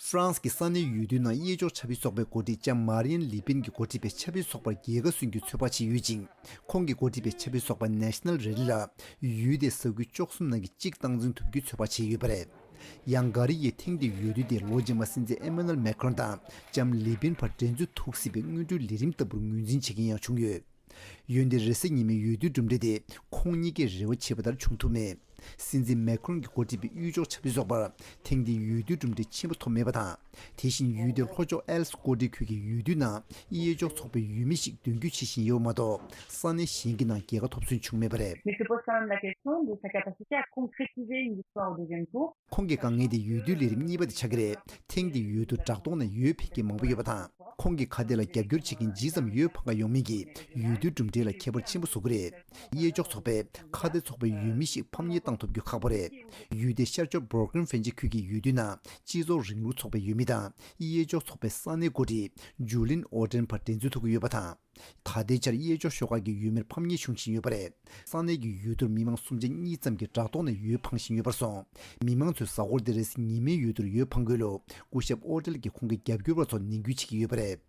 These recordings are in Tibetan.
ཧྥ་རན་སི་གི་ས་གནས་ཡུལ་དུས་ནང་གཡས་འཇོག་ཆབ་ཡིག་ཚོགས་པའི་འགོ་ཁྲིད་ལྕམ་མཱར་ཡེན་ལི་པིན་གྱི་འགོ་ཁྲིད་པའི་ཆབ་ཡིག་ཚོགས་པར་རྒྱལ་ཁ་སོན་རྒྱུའི་ཚོད་དཔག་བྱས་ཡོད་ཅིང། ཁོང་གི་འགོ་ཁྲིད་པའི་ཆབ་ཡིག་ཚོགས་པ National Rally ལ་ཡུལ་དེའི་ས་ཁུལ་བཅོ་གསུམ་ནང་གི་གཅིག་སྟངས་འཛིན་ཐུབ་རྒྱུའི་ཚོད་དཔག་བྱས་ཡོད་པ་རེད། ཡང་འགའ་རེ་ཡིས་ཐེངས་འདིའི་ཡུལ་དུས་དེ་ལོ་རྗེས་མར་སྲིད་འཛིན Emmanuel Macron དང་ལྕམ་ལི་པིན་བར་འགྲན་རྩོད་ཐུག་སྲིད་པའི་དངོས་འབྲེལ་ལས་རིམ་ལྟ་བུར་ངོས་འཛིན་བྱེད་མཁན་ཡང་བྱུང་ཡོད། ཡོད་འདི་རེ་སྲེག་ཉེས་མེད་ཡོད་དུས་གྲུབ་འབྲས་དེ་ཁོང་གཉིས་ཀས་རེ་བ་བྱས་པ་ལྟར་བྱུང་ཐུབ་མེད། སྲིད་འཛིན་མེ་ཁོན་གྱི་འགོ་ཁྲིད་པའི་གཡུལ་འཇོག་བྱ་འཕུལ་སོགས་པར་ཐེངས་འདིའི་ཡོད་དུས་གྲུབ་འབྲས་ཆེན་པོ་ཐོབ་མེད་པ་དང། དེ་བཞིན་ཡུལ་དེའི་ལྷོ་ཕྱོགས་ཨེལ་སྐོ་སྡེ་ཁུལ་གྱི་ཡུལ་དུས་ནང་དབྱེ་འཇོག་ཚོགས་པའི་ཡུལ་མི་ཞིག་མདུན་སྐྱོད་བྱེད་བཞིན་ཡོད་པ་མ་གཏོགས་ས་གནས་གཞན་གྱི་ནང་རྒྱལ་ཁ་ཐོབ་ཚུལ་བྱུང་མེད་པ་རེད། མེག་སི་ཀོ་ས་གནས་ལ་ཁེལ་སོང་འདུག་ས་སྐྱ་པ་སི་ཅཱ་ཁོང་ཁྲི་ཆིག་རེའི་ཉི་ཤུ་རྩ་དགུ་དུས་དྲན་དུ་ཁོང་གི་དཀའ་ངལ་དེ་ཡུལ་དུས་ལས་རིམ་གཉིས་པ་དེ་ཆགས་ཀྱི་རེད་ཐེངས་འདིའི་ཡུལ་དུ་བྲག་གདོང་ནས་ཡོད་ཕེབས་མཁན་མང་པོ་ཡོད་པ་དང་ཁོང་གི་ཁ་དེ་ལ་རྒྱབ་སྐྱོར་བྱེད་མཁན་ཇི་ཙམ་ཡོད་ཕ་འགའ་ཡོང་མིན་གྱིས་ཡུལ་དུས་གྲུབ་འབྲས་ལ་ཁྱད་པར་ཆེན་པོ་བཟོ་གི་རེད་གཡས་འཇོག་ཚོགས་པས་ཁ་དེ་ཚོགས་པའི་ཡུལ་མི་ཞིག་ཕམ་ཉེས་བཏང་ཐུབ་རྒྱུ་ཁག་པོ་རེད་ཡུལ་དེའི་ཤར་ཕྱོགས་འབོར་ཁན་ཧྥན་ཆི་ཁུལ་གྱི་ཡུལ་དུས་ནང་སྤྱི་ཚོགས་རིང་ལུགས་ཚོགས་པའི་ཡུལ་མི་དང་གཡས་འཇོག་ཚོགས་པའི་ས་གནས་མགོ་ཁྲིད་ཇུ་ལིན་ཨོ་ཀྲེན་བར་འགྲན་རྩོད་ཐུག་གི་ཡོད་པ་དང། ད་ལྟའི་ཆར་གཡས་ཕྱོགས་ཤོག་ཁག་གི་ཡུལ་མིར་ཕམ་ཉེས་བྱུང་བཞིན་ཡོད་པ་རེད། ས་གནས་ཀྱི་ཡུལ་དུར་མི་མང་སུམ་ཆ་གཉིས་ཙམ་གྱིས་དྲ་ཐོག་ནས་ཡུལ་འཕང་བཞིན་ཡོད་པར་སོང། མི་མང་ཚོས་གཟའ་འཁོར་འདི་རེས་ཉིན་མའི་ཡུལ་དུར་ཡོལ་འཕང་དགོས་ལུགས་སྐུ་ཞབས་ཨོ་ཏེལ་གྱིས་ཁོང་གི་རྒྱབ་སྐྱོར་བ་ཚོར་ནན་སྐུལ་བྱེད་ཀྱི་ཡོད་པ་རེད།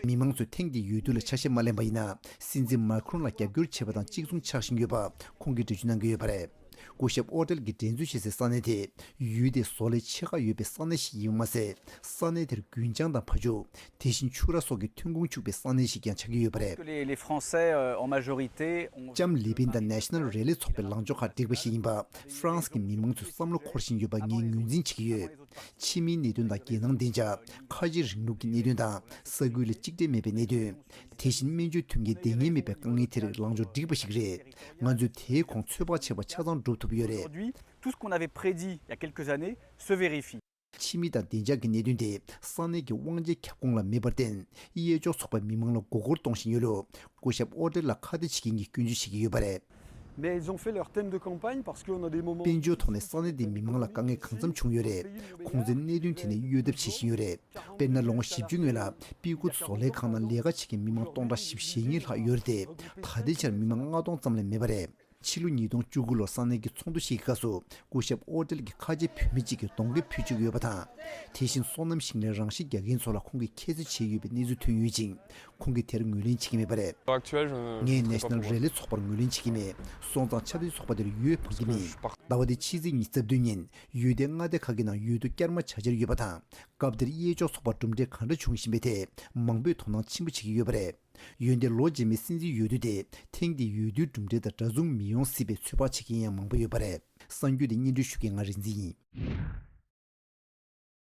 མི་མང་ཚོས་ཐེངས་འདིའི་ཡུལ་དུར་ལ་ཆ་ཤས་མ་ལེན་པ་ཡིན་ན་སྲིད་འཛིན་མཱ་ཁེ་རོན་ལ་རྒྱབ་སྐྱོར་བྱེད་པ་དང་གཅིག་མཚུངས་ཆགས་བཞིན་ཡོད་པ་ཁོང་གིས་འགྲེལ་བརྗོད་གནང་གི་ཡོད་པ་རེད། སྐུ་ཞབས་ཨོ་ཏེལ་གྱིས་འགྲན་རྩོད་བྱེད་སའི་ས་གནས་དེ་ཡུལ་དེའི་བཟོ་ལས་ཆེ་ཁག་ཡོད་པའི་ས་གནས་ཤིག་ཡིན་པ་མ་ཟད་ས་གནས་དེར་རྒུན་ཆང་དང་ཕ་ཆུ། དེ་བཞིན་ཕྱུགས་ར་སོགས་ཀྱི་ཐོན་ཁུངས་ཕྱུག་པའི་ས་གནས་ཤིག་ཀྱང་ཆགས་ཀྱི་ཡོད་པ་རེད། ལྕམ་ལི་པིན་དང National Rally ཚོགས་པའི་ལངས་ཕྱོགས་ཁག་འགྲིག་པ་ཞིག་ཡིན་པ་ཧྥ་རན་སི་གི་མི་མང་ཚོས་བསམ་བློ་འཁོར་བཞིན་ཡོད་པ་ངས་ངོས་འཛིན་བྱེད་ཀྱི་ཡོད། ཕྱི་མིའི་གནད་དོན་དང་རྒྱལ་ནང་བདེ་འཇགས། ཁ་ཆེའི་རིང་ལུགས་ཀྱི་གནད་དོན་དང་ས་ཁུལ་ལ་གཅིག་འབྲེལ་མེད་པའི་གནད་དོན། དེ་བཞིན་སྨན་བཅོས་ཐོན་སྐྱེད་བདེ་ངན་མེད་པའི་དཀའ་ངལ་དེ་རིགས་ལངས་ཕྱོགས་འགྲིག་པ་ཞིག་རེད། ང་ཚོས་དེའི་གོང་ཚོད་དཔག་བྱས་པ་ཆ་ཚང་སྒྲུབ་ཐུབ་ཡོད་རེད། ཕྱི་མི་དང་བདེ་འཇགས་ཀྱི་གནད་དོན་དེ་ས་གནས་ཀྱི་དབང་ཆའི་ཁྱབ་ཁོངས་ལ་མེད་པར་བརྟེན་གཡས་ཕྱོགས་ཚོགས་པའི་མི་མང་ལ་མགོ་སྐོར་གཏོང་བཞིན་ཡོད་ལུགས་སྐུ་ཞབས་ཨོ་ཀྲེ་ལ་ཁ་བརྡ་བྱེད་མཁན་གྱིས་སྐྱོན་བརྗོད་བྱེད་ཀྱི་ཡོད་པ་རེད། དཔལ་འབྱོར་ཐོག་ནས་ས་གནས་དེའི་མི་མང་ལ་དཀའ་ངལ་གང་འཚམ་བྱུང་ཡོད་རེད། ཁོང་ཚོས་གནད་དོན་དེ་ནས་གཡོལ་ཐབས་བྱེད་བཞིན་ཡོད་རེད། དཔེར་ན་ལོ་ངོ་བཞི་བཅུའི་སྔོན་ལ་པི་ཀུ་བཟོ་ལས་ཁང་ནང་ལས་ཀ་བྱེད་མཁན་མི་མང་སྟོང་ཕྲག་བཞི་བཞེ་གཉིས་ལྷག་ཡོད་རེད་དེ། ད་ལྟའི་ཆར་མི་མང་ལྔ་སྟོང་ཙམ་ལས་མེད་པ་རེད། ཕྱི་ལོ་ཉིས་སྟོང་བཅུ་དགུ་ལོར་ས་གནས་ཀྱི་ཚོགས་འདུ་ཞིག་གི་སྐབས་སུ་སྐུ་ཞབས་ཨོ་ཏེལ་གྱིས་ཁ་ཆེ་བུད་མེད་ཅིག་གིས་གདོང་གད་ཕུད་བཅུག་ཡོད་པ་དང། དེ་བཞིན་སོ་ནམ་ཞིང་ལས་རང་ཤི་རྒྱག་མཁན་ཚོ་ལ་ཁོང་གིས་ཁྱད་གསོད་བྱས་ཡོད་པའི་གནས་ཚུལ་ཐོན་ཡོད་ཅིང། ཁོང་གིས་དེར་ངོས་ལེན་བྱེད་ཀྱི་མེད་པ་རེད། ངས National Rally ཚོགས་པར་ངོས་ལེན་བྱེད་ཀྱི་མེད། སོང་ཙང་ཆབ་སྲིད་ཚོགས་པ་དེར་ཡོད་འཕངས་ཀྱི་མེད། ཟླ་བ་འདིའི་ཕྱི་ཚེས་ཉི་ཚེ་བདུན་ཉིན་ཡུལ་སྡེ་མངའ་སྡེ་ཁག་གི་ནང་ཡུལ་དུ་བསྐྱར་མ་བྱ་འཆར་ཡོད་པ་དང་སྐབས་དེར་གཡས་ཕྱོགས་ཚོགས་པར་གྲུབ་འབྲས་གང་འདྲ་བྱུང་བཞིན་པའི་ཐད་མང་པོས་དོ་སྣང་ཆེན་པོ་བྱེད་ཀྱི་ཡོད་པ་རེད། ཡུལ་འདི་ལོ་རྗེས་མའི་སྲིད་འཛིན་ཡུལ་དུས་ཏེ་ཐེངས་འདིའི་ཡུལ་དུས་གྲུབ་འབྲས་དང་འདྲ་མཚུངས་མི་ཡོང་སྲིད་པའི་ཚོད་དཔག་བྱེད་མཁན་ཡང་མང་པོ་ཡོད་པ་རེད། གསར་འགྱུར་འདི་སྙན་སྒྲོན་ཞུ་མཁན་ང་རིག་འཛིན་ཡིན།